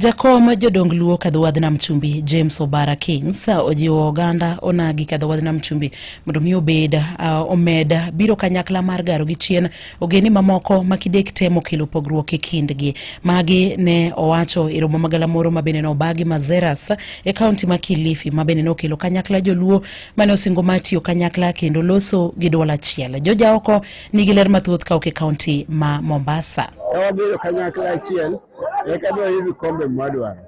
Jakom jodong luo kadhowadh nam chumbi James Obara Kings uh, ojiwo oganda onagi kadhowadh nam chumbi mondo mi obed uh, omed biro kanyakla mar garo gi chien ogeni mamoko ma kidek temo kelo pogruok e kindgi. Magi ne owacho e romo magala moro ma bende nobagi Mazeras e kaunti ma Kilifi ma bende nokelo kanyakla joluo mane osingo mar tiyo kanyakla kendo loso gi dwol achiel. Joja oko Nigi ler mathoth ka ok e kaunti ma Mombasa. Ka wabiro kanyakla achiel, eka dwa yudo kombe mwadwaro.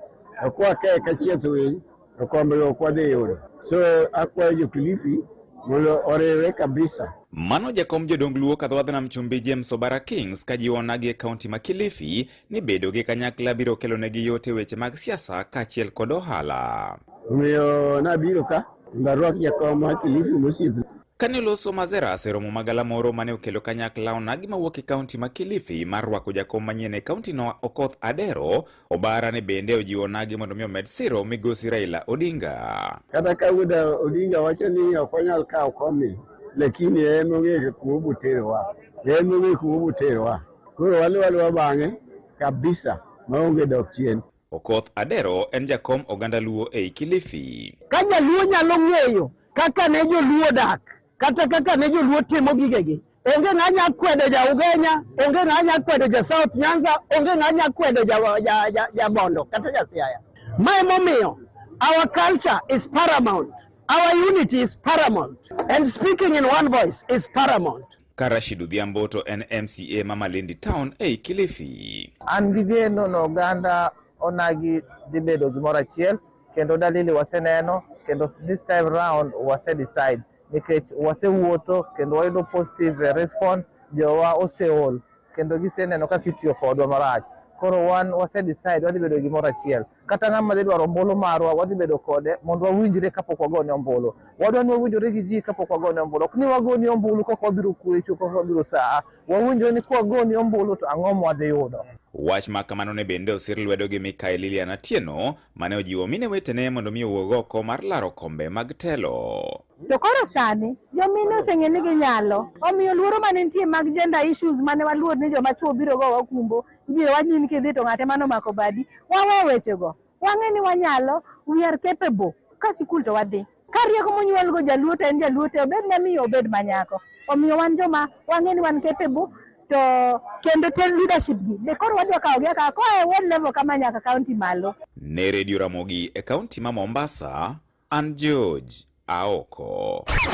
To kwa ka eka chieth winy, to kombe ok wadhi yudo. So akwayo jo Kilifi mondo oriwre kabisa. Mano jakom jodong Luo kadhowadh nam chumbi James Obara Kings ka jiwo nagi e kaunti ma Kilifi ni bedo gi kanyakla biro kelo negi yot e weche mag siasa kaachiel kod ohala. Omiyo nabiro ka mondo arwak jakom ma Kilifi mosiepe. Kane oloso Mazeras e romo magala moro mane okelo kanyakla onagi mawuok e kaunti ma Kilifi mar rwako jakom manyien e kauntino Okoth Adero, Obara ne bende ojiwo onagi mondo mi omed siro migosi Raila Odinga. Kata ka wuda Odinga wacho ni ok onyal kawo komi, lakini en ong'eyo kuma oboterowa, en ong'eyo kuma oboterowa. Koro waluwa luwa bang'e kabisa maonge dok chien. Okoth Adero en jakom oganda Luo ei Kilifi. Ka jaluo nyalo ng'eyo kaka ne joluo dak kata kaka ne joluo timo gigegi, onge ng'a nya kwedo ja Ugenya, onge ng'a nya kwedo ja South Nyanza, onge ng'a nya kwedo ja, ja, ja, ja Bondo kata ja Siaya. Ma emomiyo our culture is paramount, our unity is paramount, and speaking in one voice is paramount. Ka Rashid Odhiambo to en MCA ma Malindi Town ei Kilifi. An gi geno ni oganda onagi dhi bedo gimoro achiel kendo dalili waseneno kendo this time round wase decide nikech wasewuotho kendo wayudo positive response jowa oseol kendo giseneno kaka itiyo kodwa marach koro wan wase decide wadhi bedo gimoro achiel. kata ng'ama dhi dwaro ombulu marwa wadhi bedo kode mondo wawinjre kapok wagone ombulu. Wadwa ni wawinjore gi ji kapok wagone ombulu. Ok ni wagoni ombulu kok wabiro kwecho, kok wabiro saa. Wawinjore ni kwagoni ombulu to ang'o mwadhi yudo. Wach ma kamano ne bende osir lwedo gi Mikael Lilian Atieno mane ojiwo mine wetene mondo mi owuog oko mar laro kombe mag telo. To koro sani jomine oseng'e ni ginyalo, omiyo luoro mane nitie mag gender issues mane waluor ni joma chwo biro go wakumbo Ibiro wach ni kidhi to ng'ate mano mako badi. Wawe wechego. Wang'e ni wanyalo, we are capable. Ka sikul to wadhi. Ka rieko monyuolgo jaluo to en jaluo te obed mamiyo obed manyako. Omiyo wan joma wang'e ni wan capable to kendo te leadership gi be koro wadwa kawo gi akawa koa e ward level kama nyaka county malo. Ne Radio Ramogi e kaunti ma Mombasa, an George Aoko.